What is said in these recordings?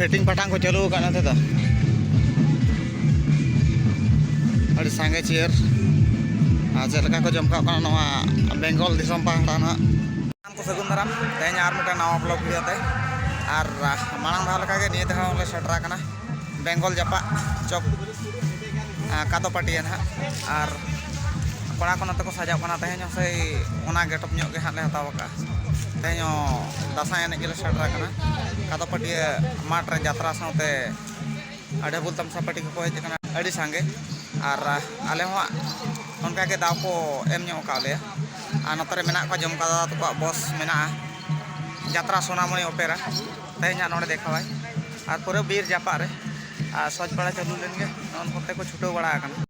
setting ᱯᱟᱴᱟᱝ ᱠᱚ ᱪᱟᱹᱞᱩ ᱟᱠᱟᱫ ᱱᱚᱛᱮ ᱫᱚ ᱟᱹᱰᱤ ᱥᱟᱸᱜᱮ ᱪᱮᱭᱟᱨ ᱟᱨ ᱪᱮᱫ ᱞᱮᱠᱟ ᱠᱚ ᱡᱚᱢ ᱠᱟᱜ ᱠᱟᱱᱟ ᱱᱚᱣᱟ ᱵᱮᱝᱜᱚᱞ ᱫᱤᱥᱚᱢ ᱯᱟᱦᱴᱟ ᱱᱟᱦᱟᱜ ᱠᱚ ᱥᱟᱹᱜᱩᱱ ᱫᱟᱨᱟᱢ ᱛᱮᱦᱮᱧ ᱟᱨ ᱢᱤᱫᱴᱟᱝ ᱱᱟᱣᱟ ᱵᱞᱚᱜ ᱵᱷᱤᱰᱤᱭᱳ ᱛᱮ ᱟᱨ ᱢᱟᱲᱟᱝ ᱫᱷᱟᱣ ᱞᱮᱠᱟᱜᱮ ᱱᱤᱭᱟᱹ ᱫᱷᱟᱣ ᱦᱚᱸᱞᱮ ᱥᱮᱴᱮᱨ ᱟᱠᱟᱱᱟ ᱵᱮᱝᱜᱚᱞ ᱡᱟᱯᱟᱜ ᱪᱚᱠ ᱠᱟᱫᱚ ᱯᱟᱹᱴᱤᱭᱟᱹ ᱱᱟᱦᱟᱜ ᱟᱨ ᱠᱚᱲᱟ ᱠᱚ ᱱᱚᱛᱮ ᱠᱚ ᱥᱟᱡᱟᱣ ᱠᱟᱱᱟ ᱛᱮᱦᱮᱧ ᱦᱚᱸ ᱥᱮᱭ ᱚᱱᱟ ᱜᱮᱴᱚᱯ ᱧᱚᱜ ᱜᱮ ᱦᱟᱸᱜ ᱞᱮ ᱦᱟᱛᱟᱣ ᱟᱠᱟᱫᱼᱟ ᱛᱮᱦᱮᱧ ᱦᱚᱸ ᱫᱟᱸᱥᱟᱭ ᱮᱱᱮᱡ ᱜᱮᱞᱮ ᱥᱮᱴᱮᱨ ᱟᱠᱟᱱᱟ ᱠᱟᱫᱚ ᱯᱟᱹᱴᱤᱭᱟᱹ ᱢᱟᱴᱷ ᱨᱮ ᱡᱟᱛᱨᱟ ᱥᱟᱶᱛᱮ ᱟᱰᱮᱵᱩᱞ ᱛᱟᱢᱥᱟ ᱯᱟᱴᱤ ᱠᱚᱠᱚ ᱦᱮᱡ ᱟᱠᱟᱱᱟ ᱟᱹᱰᱤ ᱥᱟᱸᱜᱮ ᱟᱨ ᱟᱞᱮ ᱦᱚᱸ ᱚᱱᱠᱟ ᱜᱮ ᱫᱟᱣ ᱠᱚ ᱮᱢ ᱧᱚᱜ ᱟᱠᱟᱫ ᱞᱮᱭᱟ ᱟᱨ ᱱᱚᱛᱮ ᱨᱮ ᱢᱮᱱᱟᱜ ᱠᱚᱣᱟ ᱡᱚᱢᱠᱟ ᱫᱟᱫᱟ ᱛᱟᱠᱚᱣᱟᱜ ᱵᱚᱥ ᱢᱮᱱᱟᱜᱼᱟ ᱡᱟᱛᱨᱟ ᱥᱳᱱᱟᱢᱚᱱᱤ ᱚᱯᱮᱨᱟ ᱛᱮᱦᱮᱧᱟᱜ ᱱᱚᱰᱮ ᱫᱮᱠᱷᱟᱣᱟᱭ ᱟᱨ ᱯᱩᱨᱟᱹ ᱵᱤᱨ ᱡᱟᱯᱟᱜ ᱨᱮ ᱟᱨ ᱥᱚᱡᱽ ᱵᱟᱲᱟ ᱪᱟᱹᱞᱩ ᱞᱮᱱ ᱜᱮ ᱱᱚᱜᱼᱚ ᱱᱚᱛᱮ ᱠᱚ ᱪᱷᱩᱴᱟᱹᱣ ᱵᱟᱲᱟ ᱟᱠᱟᱱᱟ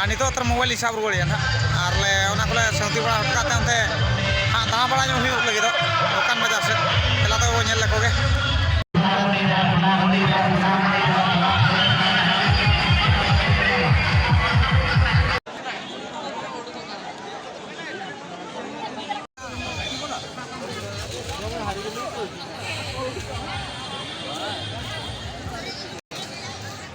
ᱟᱨ ᱱᱤᱛᱚᱜ ᱛᱟᱨ ᱢᱳᱵᱟᱭᱤᱞ ᱞᱤᱧ ᱥᱟᱵ ᱨᱩᱣᱟᱹᱲᱮᱜᱼᱟ ᱱᱟᱦᱟᱜ ᱟᱨ ᱞᱮ ᱚᱱᱟ ᱠᱚᱞᱮ ᱥᱟᱹᱱᱛᱤ ᱵᱟᱲᱟ ᱦᱚᱴᱚ ᱠᱟᱜ ᱛᱮ ᱚᱱᱛᱮ ᱦᱟᱸᱜ ᱫᱟᱬᱟ ᱵᱟᱲᱟ ᱧᱚᱜ ᱦᱩᱭᱩᱜ ᱞᱟᱹᱜᱤᱫᱚᱜ ᱫᱚᱠᱟᱱ ᱵᱟᱡᱟᱨ ᱥᱮᱫ ᱫᱮᱞᱟ ᱛᱚᱵᱮ ᱵᱚᱱ ᱧᱮᱞ ᱞᱮᱠᱚ ᱜᱮ